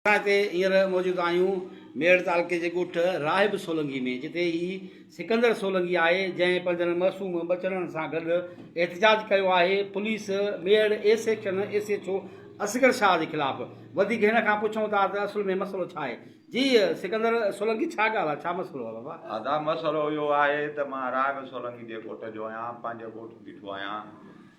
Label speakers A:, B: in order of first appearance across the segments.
A: اسان هتي هينئر موجود آهيون ميڙ تعلقي جي ڳوٺ راهب سولنگي ۾ جتي هي سڪندر سولنگي آهي جنهن پنهنجن معصوم ٻچڙن سان گڏ احتجاج ڪيو آهي پوليس ميڙ A section SHO Asghar Shah جي خلاف وڌيڪ هن کان پڇون ٿا ته اصل ۾ مسئلو ڇا آهي جي سڪندر سولنگي ڇا ڳالهه آهي ڇا مسئلو آهي بابا ادا مسئلو اهو
B: آهي ته مان راهب سولنگي جي ڳوٺ جو آهيان پنهنجي ڳوٺ بيٺو آهيان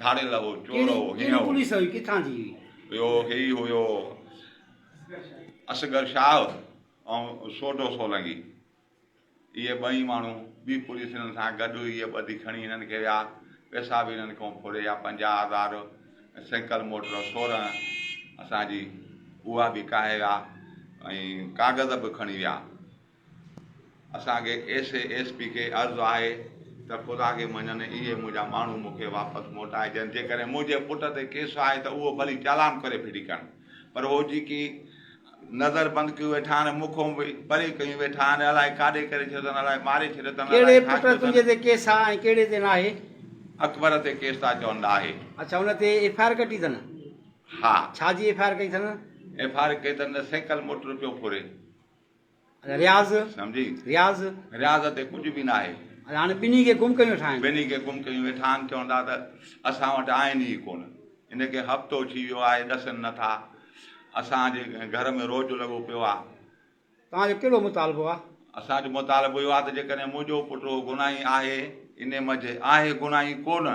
B: ڌاڙيل هو، چور هو، هينئن هو. ڪهڙي پوليس هئي، ڪٿان جي
A: هئي؟ اهو هي ئي هيو
B: اصغر شاهه ۽ سوڍو سولنگي. اهي ٻئي ماڻهو ٻي پوليس هنن سان گڏ هئي. اهي ٻڌي کڻي هنن کي ويا. پئسا به هنن کان ڦريا، پنجاهه هزار ۽ سيڪل موٽر سورهن اسان جي اها به ڪاهي ويا ۽ ڪاغذ به کڻي ويا. اسان کي ايس اي ايس پي کي عرض آهي ته خدا کي مڃن اهي منهنجا ماڻهو مون کي واپس موٽائجن جيڪڏهن منهنجي پٽ تي ڪيس آهي ته اهو ڀلي چالان ڪري ڦٽي ڪن پر هو جيڪي نظر بند ڪيون ويٺا آهن مون کون به پري ڪيون ويٺا آهن الائي ڪاڏي ڪري ڇڏيو اٿن الائي ماري ڇڏيو اٿن الائي ڪهڙي ڇا پٽ ڪيو تنهنجي
A: اٿن تي ڪيس آهي ۽ ڪهڙي تي ناهي؟ اڪبر تي
B: ڪيس ٿا چون ناهي اڇا ان تي ايف
A: آء آر ڪٽي اٿن ها
B: ڇا جي ايف آء آر ڪئي
A: اٿن؟ ايف آء آر ڪئي اٿن
B: ته سيڪل موٽر پيو ڦري.
A: رياض، سمجهي؟
B: رياض. رياض
A: تي ڪجهه به ناهي.
B: هاڻي ٻنهي کي گم
A: ڪيون ويٺا آهن. ٻنهي کي گم ڪيون ويٺا
B: آهن، چون ٿا ته اسان وٽ آهن ئي ڪونه. هن کي هفتو ٿي ويو آهي، ڏسن نه ٿا. اسان جي گهر ۾ روڄ لڳو پيو آهي. توهان جو ڪهڙو
A: مطالبو آهي؟ اسان جو مطالبو
B: اهو آهي ته جيڪڏهن منهنجو پٽ اهو گناهي آهي، انهي منجهه آهي گناهي ڪونه.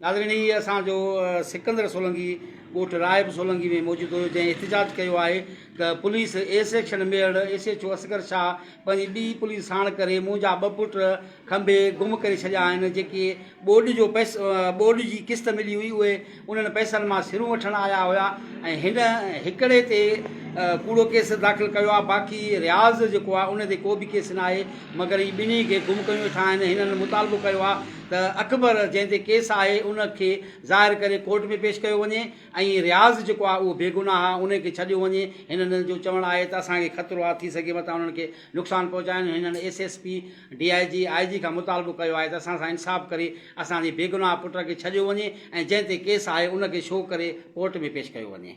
A: ناظرين هي اسان جو سڪندر سولنگي ڳوٺ راهب سولنگي ۾ موجود هيو جنهن احتجاج ڪيو آهي ته پوليس اي سيڪشن ميڙ SHO Asghar Shah پنهنجي ٻي پوليس ساڻ ڪري منهنجا ٻه پٽ کنڀي گم ڪري ڇڏيا آهن جيڪي ٻوڏ جو پئس ٻوڏ جي قسط ملي هئي اهي انهن پئسن مان سرون وٺڻ آيا هيا ۽ هن هڪڙي تي ڪوڙو ڪيس داخل ڪيو آهي باقي رياض جيڪو آهي ان تي ڪو به ڪيس ناهي مگر هي ٻنهي کي گم ڪيون ويٺا آهن هنن مطالبو ڪيو آهي ته اڪبر جنهن تي ڪيس آهي ان کي ظاهر ڪري ڪورٽ ۾ پيش ڪيو وڃي ۽ رياض جيڪو آهي اهو بيگناهه آهي ان کي ڇڏيو وڃي هنن جو چوڻ آهي ته اسان کي خطرو آهي ٿي سگهي متان انهن کي نقصان پهچائن هنن SSP DIG IG کان مطالبو ڪيو آهي ته اسان سان انصاف ڪري اسان جي بيگناهه پٽ کي ڇڏيو وڃي ۽ جنهن تي ڪيس آهي ان کي شو ڪري ڪورٽ ۾ پيش ڪيو وڃي.